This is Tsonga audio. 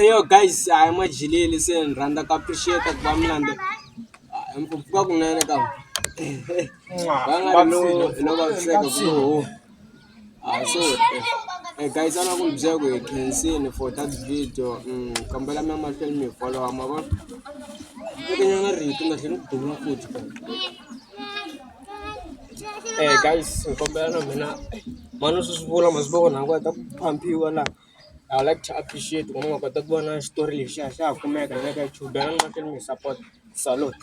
Eya guys hayi majikele se ni rhandza ku appreciate ku va mi landza hi ku pfuka kunene ka hi gayisana ku byela ku hi khensile for that video ni kombela mi ya mahlweni mi hi folowa ma vo nyana rito ni nga tlhela ni ku duma futhi. Eh guys ni kombela na mina mhani u swi swi vula masiku loko nhangu heta ku phampiwa laha I would like to appreciate ku va ni nga kota ku vona xitori lexiya xa ha kumeka na le ka YouTube bela ni mahlweni mi hi support-a salute.